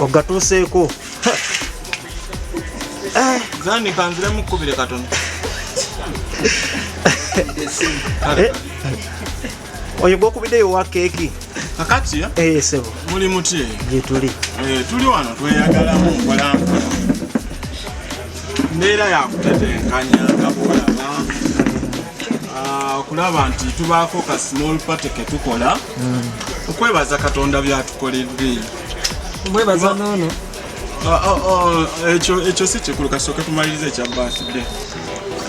ogatuuseeko eh. zani kanzire mukubire katono eh. oyo gwokubiddeyo wa keeki kakati eh, sebo muli muti gyetuli tuli wano tweyagalamu mbeera yakutetenkanya nga bwolaba ah, okulaba nti tubaako ka small party ketukola hmm. okwebaza katonda byatukoledde mwebaza nono ah, ah, ekyo si kikulu kasooke tumaliriza ekya birthday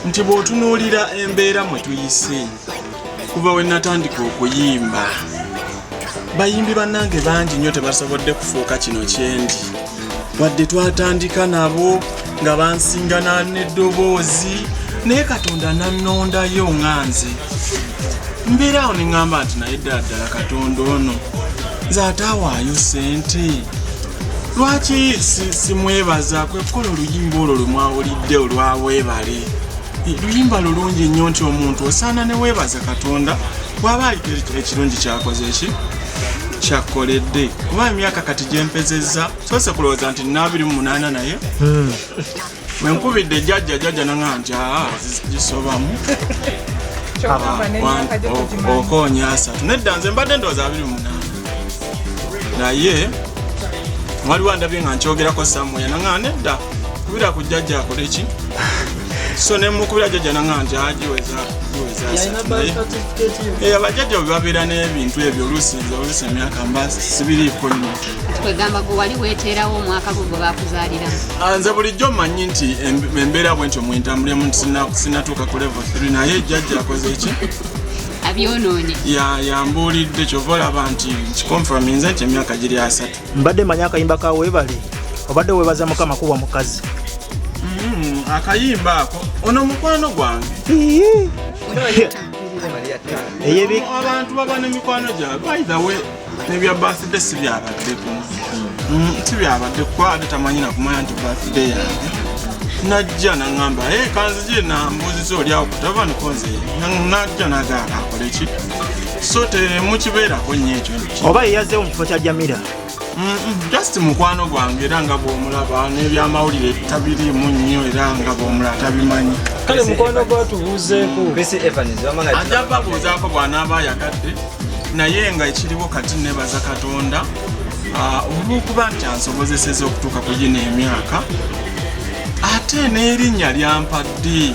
nti bw'otunuulira embeera mwe tuyise kuva we natandika okuyimba bayimbi bannange bangi nnyo tebasobodde kufuuka kino kyendi wadde twatandika nabo nga bansingana n'eddoboozi naye katonda nannondayo nga nze mbeera awo ne ŋŋamba nti naye ddala ddala katonda ono nze ataawaayo sente lwaki simwebaza kwekkola oluyimba olwo lwe mwawulidde olwawebale si, si luyimba lulungi nnyo nti omuntu osaana ne weebaza katonda bwaba aliko ekirungi kyakoze eki kyakkoledde kuba emyaka kati gyempezezza soose kulowooza nti nabiri mu munaana naye hmm. wenkubidde jajja jajja nanga nti aa gisobamu okonya asatu nedda nze mbadde ndowooza abiri mu munaana naye waliwo andabye nga nkyogerako samuya nanga nedda kubira ku jjajja akole ki so nemukubira jjajja nanga nti agiweza eh, abajjajja bwe babeera n'ebintu ebyo oluusi nze oluusi emyaka mba sibiriiko nyo kwegamba gwe wali weteerawo omwaka gwe gwe bakuzaaliramu ah, nze bulijjo mmanyi nti embeera bwentyo mwentambulemu nti sinatuuka ku level 3 naye jjajja akoze ki abyonoonye yambuulidde kyova olaba nti kikonfaminze nti emyaka giri asatu mbadde manyi akayimba ka webale obadde webaza mukama kuwa mukazi mm, akayimba ako ono mukwano gwange abantu baba ne mikwano gyabwe nebya birthday si byabaddeko mm, si byabadde kuba ate tamanyi nakumanya nti birthday yange najja naŋamba e kanzije nambuziza oli awo kutava niko nze najja nagaala akole ki so temukibeerako nyo ekyo oba yeyazeewo mu kifo kya jamira just mukwano gwange era nga bwomulaba nebyamawulire tabirimu nnyo era nga bwomulaba tabimanyi kale mukwano gwatubuuzeeko ajja babuuzaako bwanaaba ayagadde naye nga ekiriwo kati nebaza katonda ah, olwokuba nti ansobozeseza okutuuka ku gino emyaka ate n'erinnya lyampadde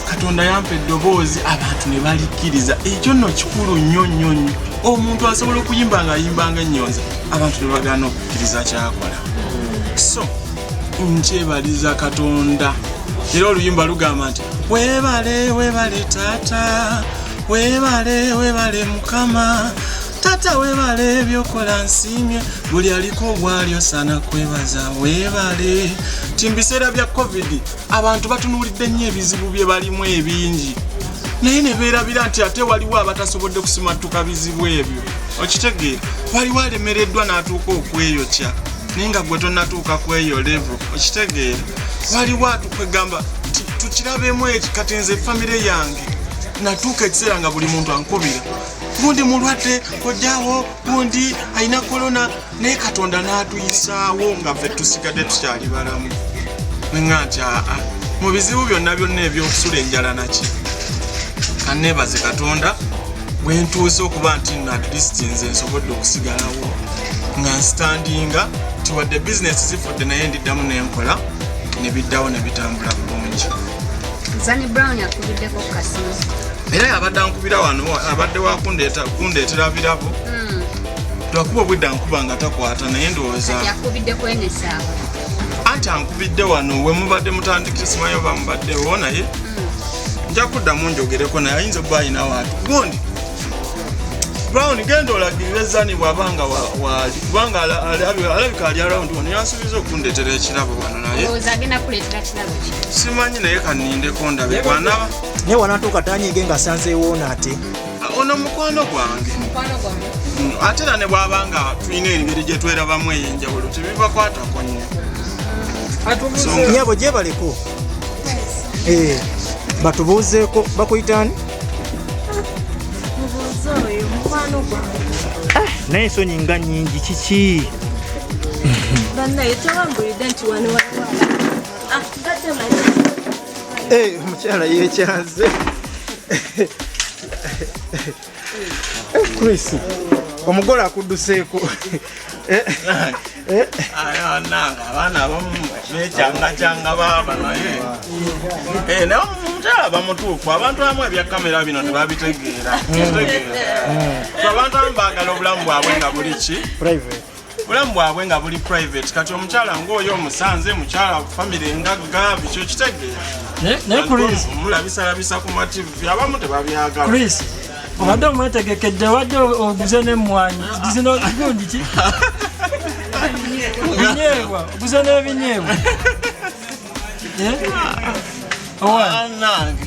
katonda yampa eddoboozi abantu ne balikkiriza ekyo nno kikulu nnyo nnyo nnyo omuntu asobola okuyimba nga ayimbanga ennyonza abantu ne bagaana okukkiriza kyakola so nkyebaliza katonda era oluyimba lugamba nti webale webale taata webale webale mukama tata webale byokola nsimye buli aliko obwalyo sana kwebaza webale ti mubiseera bya covid abantu batunulidde nnyo ebizibu bye balimu ebingi naye nebeerabira nti ate waliwo abatasobodde kusimattuka bizibu ebyo okitegeera waliwo alemereddwa n'atuuka okweyokya naye nga gwe tonatuuka kweyo levo okitegeera waliwo atukwegamba tukirabemu eki kati nze famire yange natuuka ekiseera nga buli muntu ankubira gundi mulwadde kojjawo gundi alina kolona naye katonda n'atuyisaawo nga ffe tusigadde tukyali balamu nga nti aa mu bizibu byonna byonna ebyokusula enjala naki kaneebaze katonda bwentuuse okuba nti no at least nze nsobodde okusigalawo nga nsitandinga tiwadde bizinesi zifudde naye ndiddamu nenkola nebiddawo nebitambula bulungi Zani Brown akubiddeko ku kasimu. Era yabadde ankubira wano abadde wa kundeetera birabo. Hmm. Twakuba obwedda nkuba nga takwata naye ndowooza. Yakubidde kwenesaawa. Anti ankubidde wano we mubadde mutandikira simanyi oba mubaddewo naye. Hmm. Nja kuddamu njogereko naye ayinza okuba alina waatu. Gundi. Brown genda olagirire Zani bw'aba nga waali kubanga alabika ali arawundi wano yansuubiza okundeetera ekirabo wano naye. simanyi naye kanindeko ndabe bwanaba naye wanatuuka tanyige nga sanzeewoona ate ono mukwano gwange mm, ate era ne bwaba nga tulina engeri gye twerabamu ey'enjawulo tebibakwatako nnyo nyabo gyebaleko eh, batubuuzeeko bakuyitaani ah, naye ensonyi nga nyingi kiki Eh, mukyala yekyaze Chris omugole akudduseeko abaana abamu bekyangacanga baaba naye eh, naye omukyala bamutuufu abantu abamu ebya kamera bino tebabitegeera abantu abamu baagala obulamu bwabwe nga buli ki bulamu bwabwe nga buli private kati omukyala ngaoyo omusanze mukyala famire engagga bikyo kitegeomulabisalabisa ku mativi abamu tebabyagala obadde omwetegekedde wadde oguze nemwanyi zinogundi ki binyeebwa oguze n'ebinyeebwa eh? owange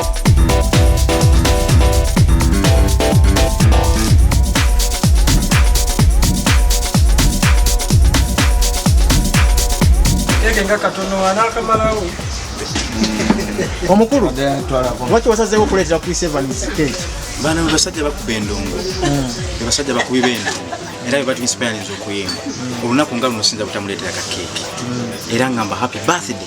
nga katono anakamalawo omukulu lwaki wasazeewo okuleetera chris evans keki bana basajja bakuba endongo ebasajja hmm. bakubi bendongo era bebatuinspirinza okuyimba hmm. olunaku nga luno sinza butamuleetera ka keeki hmm. era ngamba happy birthday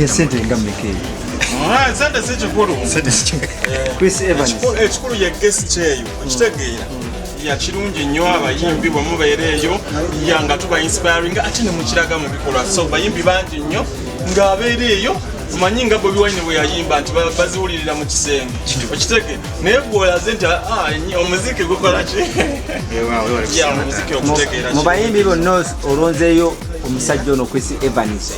yesente nga mmeka eyo sente si kikulu chris evans ekikulu ye gesi kyeyo okitegeera yakirungi nnyo abayimbi bwe mubeera eyo ya nga tuba inspiring ate ne mukiraga mu bikolwa so bayimbi bangi nnyo ng'abeera eyo manyi nga bobi wine bwe yayimba nti baziwulirira mu kisenge okitege naye gwolaze nti ah, omuziki gukolaki mu bayimbi bonna olonzeeyo omusajja ono kwisi evans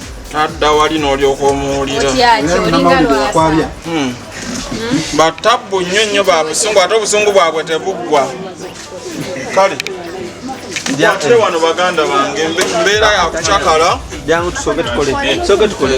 tadda wali n'olyoka omuwulira hmm. batabbu nnyo nnyo ba busungu ate obusungu bwabwe tebuggwa kale ate wano baganda bange mbeera yakucakala jangu tusoke tukole